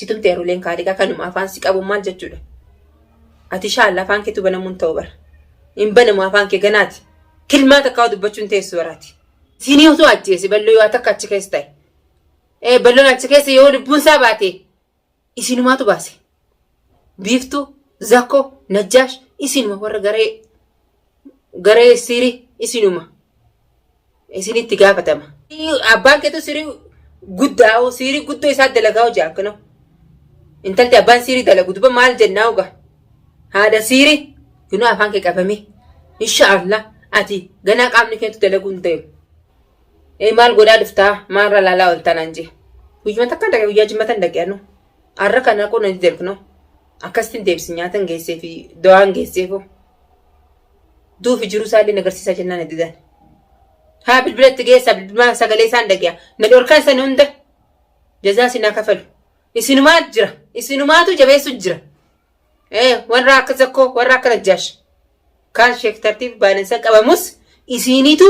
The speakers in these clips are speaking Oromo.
si tumte eruleen kaaliqaa kanuma afaan si qabu maal jechuudha ati shaalla afaan keetu banamuun ta'u bara hin banamu afaan kee ganaati kilmaa takkaa dubbachuun teessu baraati siinii osoo ajjeese balloo yoo takka achi keessa ta'e balloon achi keessa yoo lubbuun isaa baate isinumaatu baase Biiftuu, Zakkoo, Najjaash isinuma warra garee garee siirii isinuma isinitti gaafatama. Abbaan keetu siirii guddaa hoo siirii guddoo isaa dalagaa hojii akkanoo. Intalti abbaan siirii dalagu duba maal jennaa hogaa? Haadha siirii kunoo afaan kee qabamee. Insha Allah ati ganaa qaamni keetu dalaguu hin deemu. Ee maal godhaa dhuftaa maalirra laalaa ooltaa naan jee. Guyyuma takkaan dhaqe guyyaa jimmatan dhaqe anuu. Arra kana kun hin deebikno. Akkasitti deebisi nyaatan geessee fi dawaan geesseefoo. Duufi jiru isaallee nagarsiisaa jennaan heddidan. Haa bilbilatti geessaa bilbilaan sagalee isaan dhage'a. Na dhorkaan san hunda jazaa sinaa kafalu. Isinumaa jira. Isinumaatu jabeessu jira. warra akka zakkoo warra akka najjaash kaan sheek tartiib baalansan qabamus isiiniitu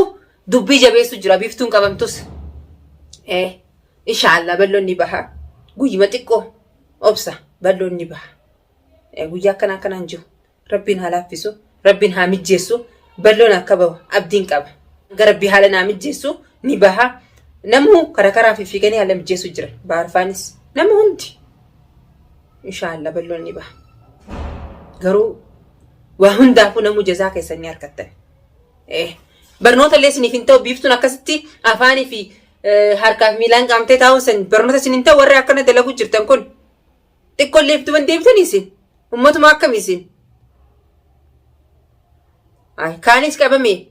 dubbii jabeessu jira biiftuun qabamtus inshaallah balloon ni baha guyyuma xiqqoo obsa balloon ni baha guyyaa akkanaa akkanaan jiru rabbiin haa laaffisu Rabbin haa mijjeessu balloon akka bahu abdiin qaba. Hanga rabbi haala naa mijjeessu ni baha. Namuu kara karaan fiffiiganii haala mijjeessu jira. Baarfaanis nama hundi. Inshaallah balloon ni baha. Garuu waa hundaafuu namuu jazaa keessan ni argattan. Eh, Barnoota illee isiniif hin ta'u biiftuun akkasitti afaanii fi eh, harkaa fi miilaan qaamtee taa'uun san barnoota isin hin ta'u warri akkana dalagu jirtan kun. Xiqqollee itti deebitanii isin. Ummatuma akkami isin. Ay, kaanis qabame.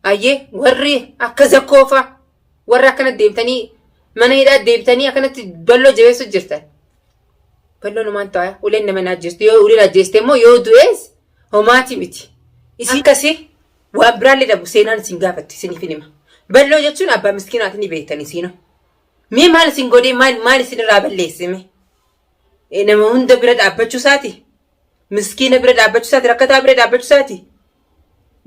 Ayyee warri akka zakkoofa warra akkana deebitanii mana hidhaa deebitanii akkanatti balloo jabeessu jirtan. Balloon homaan ta'a. Uleen nama naajjeestu. Yoo uleen ajjeeste immoo yoo du'ees homaati miti. Isin akkasii waan biraallee dhabu seenaan isin gaafatti isiniif hin hima. Balloo jechuun abbaa miskiinaati ni beektanii siinoo. Mee maal isin godhee maal maal isin irraa balleesse mee? Eh, Nama hunda bira dhaabbachuu isaati. Miskiina bira dhaabbachuu isaati. Rakkataa bira dhaabbachuu isaati.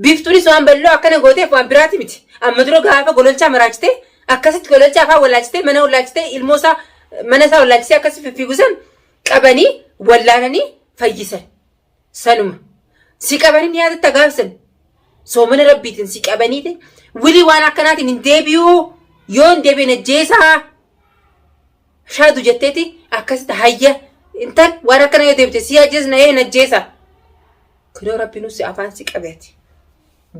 Biiftuunis waan bal'oo akkana gooteef waan biraati miti. Amma dura gaafa gololchaa maraachitee akkasitti gololchaa afaan wallaalchitee mana wallaalchitee ilmoo isaa mana isaa wallaalchisee akkasitti fiffiigusan qabanii wallaananii fayyisan. sanuma si qabanin yaadatti agaabsan soomana rabbiitiin si qabaniiti wili waan akkanaatiin hin deebi'uu yoo hin deebi'in ajjeesaa shaadu jetteeti akkasitti hayya intal waan akkana yoo deebite si ajjeesna ee hin ajjeesa kunoo rabbiinuu si afaan si qabeeti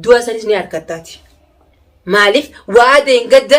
du'a sanis ni argattaati maaliif waadeen gadda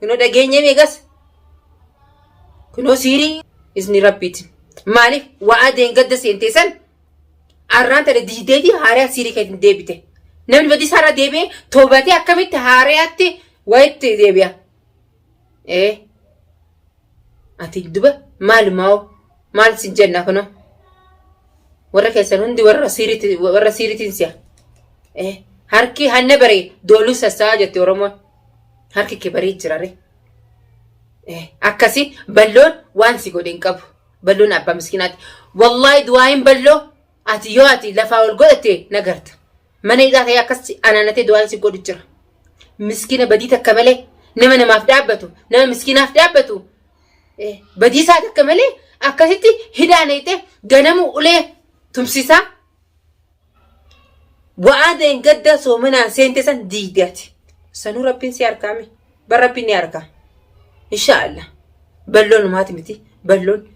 Kunoo dhageenye meeqas? Kunoo siirii isni rabbiiti. Maaliif waa adeen gadda seentee san arraan tana diideeti haariyaa siirii keetiin deebite. Namni badii isaarra deebi'ee toobatee akkamitti haariyaatti wayitti deebi'a. Ee ati duba maalumaa maal sin jenna kunoo warra keessan hundi warra siiriitiin si'a. Ee harki hanna baree dooluu sassaa jetti Oromoon. Harki kee baree jirare. Akkasi balloon waan si godhe hin qabu. Balloon abbaa miskinaati. Wallaahi du'aayin balloo ati yoo ati lafaa ol godhatte nagarta. Mana hidhaa ta'ee akkasi anaanatee du'aayin si godhu jira. Miskina badii takka malee nama namaaf dhaabbatu nama miskinaaf dhaabbatu badii isaa takka malee akkasitti hidhaa neexee ganamuu ulee tumsisaa. Wa'aa deengaddaa soomanaan seente san diigde ati. Sanuu rabbiin si harkaame. Bar rabbiin ni harkaa. Insha Allah. Balloon umaati miti. Balloon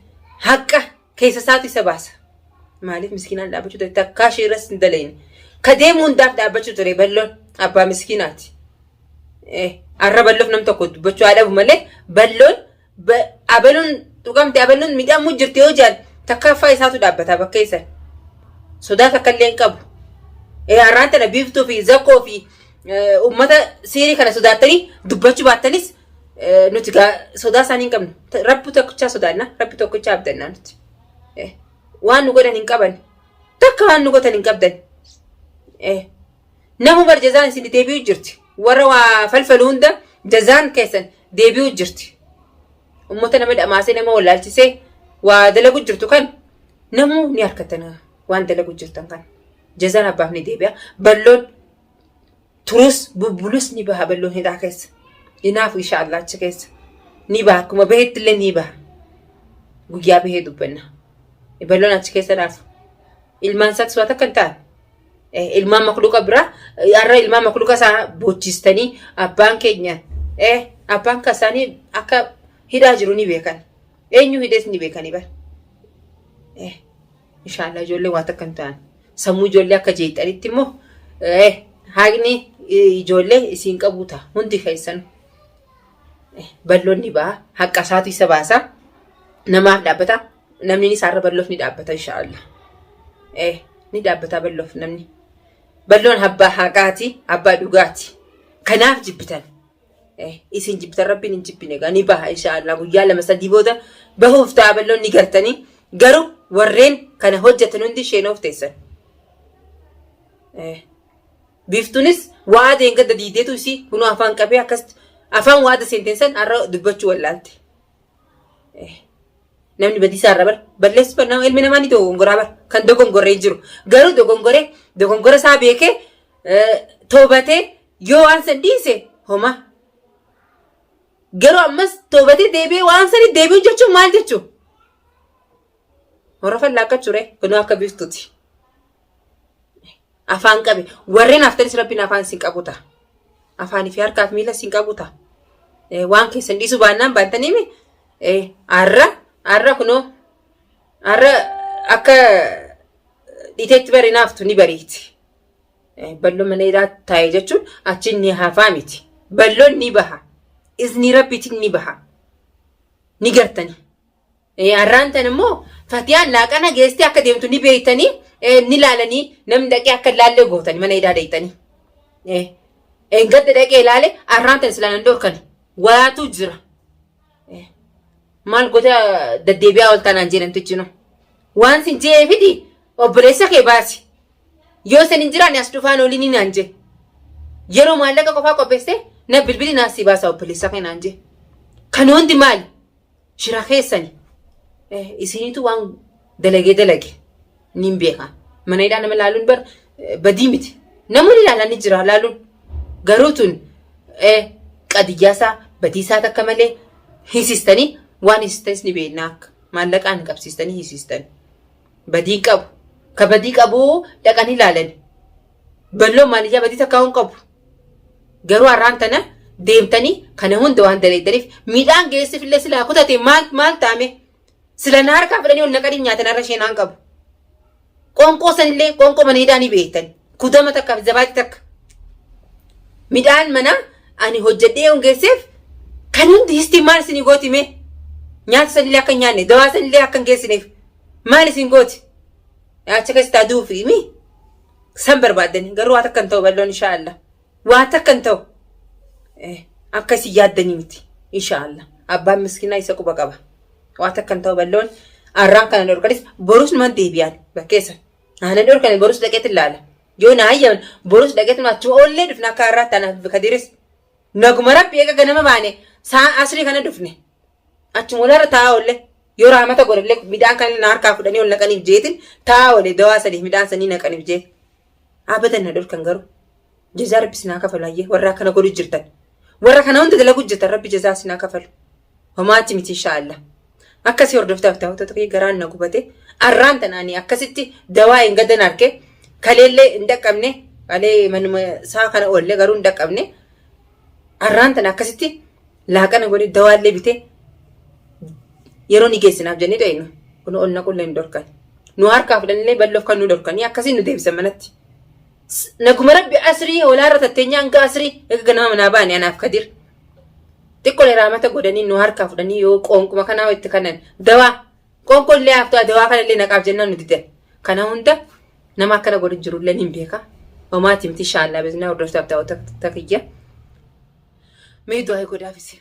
haqa keessa isaatu isa baasa. Maaliif miskiinaan dhaabbachuu ture? Takkaa ishee irras hin dalayne. Ka deemu hundaaf dhaabbachuu ture balloon abbaa miskiinaati. Arra balloof nam tokko dubbachuu haa dhabu malee balloon Ba- Abeluun tuqamte abeluun midhamuu jirti yoo jedhan takkaaffaa isaatu dhaabbata bakka isan. Sodaa takka illee hin qabu. Eh, Har'aan tana biiftuu fi zakkoo fi eh, uummata siirii kana sodaattanii dubbachuu baattanis eh, nuti gaa sodaa isaanii hin qabnu. Ta- Rabbi tokkichaa sodaanna, rabbi tokkichaa abdannaa nuti. Eh, Waan nu godhan hin qaban. Takka waan nu godhan hin qabdan. Eh, Namu bar jazaan isin deebi'u jirti. Warra waa falfalu hunda jazaan keessan deebi'u jirti. Ummata nama dhamaasee nama wallaalchisee waa dalagu jirtu kan namu ni harkatan waan dalagu jirtan kan. Jazaan abbaaf ni deebi'a. Balloon turus bubbulus ni baha balloon hidhaa keessa. Inaafu insha Allah achi keessa. Ni baha akkuma bahetti illee ni baha. Guyyaa bahee dubbanna. Balloon achi keessa naafu. Ilmaan isaatti su'aa takka hin taane. Eh, Ilmaan makluuqa biraa eh, har'a ilmaan makluuqa isaa boochistanii abbaan keenya eh, abbaan kan isaanii akka hidhaa jiru ni beekan. Eenyu hidhees ni beekanii bara. Eh, Inshaallah ijoollee waa takka hin taane. Sammuu ijoollee akka jeeqxanitti immoo eh, haaqni eh, ijoollee isiin qabuu ta'a hundi keessan. balloonni ba'a haqqa isaatu isa baasa namaaf dhaabbata Namni isaarra balloof ni dhaabbata inshaallah. Eh ni dhaabbataa balloof namni. Balloon abbaa haqaati, abbaa dhugaati. Kanaaf jibbitan. Eh isin jibbitan rabbiin hin jibbine egaa ni baha inshaallah guyyaa lama sadii booda bahuuf ta'a balloon ni gartanii. Garuu warreen kana hojjetan hundi sheenoof teessan. Eh. Biiftuunis waa deengadda diideetu isii kunoo afaan qabee akkasitti afaan waada seenteen san har'a dubbachuu wallaalte. Namni badiisaa irra bar balleessu kan nama ilmi namaa ni dogongoraa bar kan dogongoree hin jiru. Garuu dogongoree dogongora isaa beekee eh, toobatee yoo waan san dhiise homa. Garuu ammas toobatee deebi'ee waan sani deebi'u jechuun maal jechuun? Horafan laakkachuu ree kunoo akka biftuti. Afaan qabe warreen haftanis rabbiin afaan isin qabuta. Afaanii fi harkaaf miila isin qabuta. Waan keessan dhiisuu baannaan baantaniimi har'a har'a kunoo har'a akka dhiiteetti bari naaftu ni bariiti. Balloon mana hidhaa taa'e jechuun achi ni hafaa miti. Balloon ni baha. Izni rabbiitiin ni baha. Ni gartanii. Har'aan tan immoo Fatiyaan laaqana geestee akka deemtu ni beeytanii ni laalanii namni dhaqee akka laallee gootanii mana hidhaa deeytanii. Engadda dhaqee laale har'aan tan silaa nan dhorkani waatuu jira. Maal goota daddeebi'aa ol taanaan jee namtichi noo. Waan sin jee fidi obboleessa kee baasi. Yoo san hin jiraanne as dhufaan olii ni naan jee. Yeroo maallaqa qofaa qopheessee na bilbili naaf si baasa obboleessa kee naan jee. Kan hundi maali? shira keessani isinitu waan dalagee dalage niin beekaa. Mana hidhaa nama laaluun bar badii miti. Namoonni ilaalan ni jira laaluun. Garuu tun qadiyyaasaa badiisaa takka malee hiisistanii waan hiisistanis ni beeknaa akka maallaqaan qabsiistanii hiisistan. Badii qabu. Ka badii qabu dhaqanii ilaalani. Balloo maaliyyaa badii takka hin qabu. Garuu har'aan tana deemtanii kana hunda waan daleeddaniif midhaan geessiif illee silaa kutate maal maal taame sila na harkaa fudhanii ol naqanii nyaatan har'a isheen aan qabu. Qoonqoo sanillee qoonqoo mana hidhaa ni beektan. Kudama takka fi zabaati takka. Midhaan mana ani hojjedhee yoon geesseef kan hundi histii maal isin gooti mee? Nyaata sanillee akka hin nyaanne dawaa sanillee akka hin geessineef maal isin gooti? Achi keessatti aduu fi mii? San barbaaddanii garuu waa takka hin ta'u balloon inshaa Allah. Waa takka hin ta'u. Akka isin yaaddanii miti inshaa Allah. Abbaan miskinaa isa quba qaba. Waa takka hin ta'u balloon arraan kana dhorkanis borus numan deebi'aan bakkeessa. Aanan dhorkane borus dhaqeet ilaala. Yoo na hayyaman borus dhaqeet nu achuma oollee dhufna akka har'aa taanaaf kadiris. Naguma rabbi eega ganama baane saa asrii kana dhufne. Achuma walarra taa'aa oolle. Yoo raamata godhallee midhaan kan na harkaa fudhanii ol naqaniif jeetin taa'aa oolle dawaa saniif midhaan sanii naqaniif jee. Abadan na dhorkan garuu. Jazaa rabbi sinaa kafalu hayyee warra akkana godhu jirtan. Warra kana hunda dalagu jirtan rabbi jazaa sinaa kafalu. Homaatti miti inshaallah. Akkasii hordoftaaf daawwattoota kiyya garaan na gubate. Arraan tanaani akkasitti dawaa hin gadan arge. Kaleellee hin dhaqqabne. Kalee manuma isaa kana oolle garuu hin dhaqqabne. Arraan tana akkasitti laaqana godhi dawaallee bitee yeroo ni geessinaaf jennee dhaynu kun ol naqullee hin dhorkan nu harkaa fudhannillee bal'oof kan nu dhorkanii akkasiin nu deebisan manatti. Naguma rabbi asrii olaarra tatteenyaa hanga asrii egaa nama manaa baane anaaf kadir. Xiqqolee raamata godhanii nu harkaa fudhanii yoo qoonquma kanaa itti kanan dawaa qoonqollee haaftaa dawaa kanallee naqaaf jennaan nu didan. Kana hunda Nama akkana godhu jiru illee hin beeka. Homaati miti shaallaa beeknaa hordoftaaf daawwata takiyya. Mee du'aa godhaaf isin.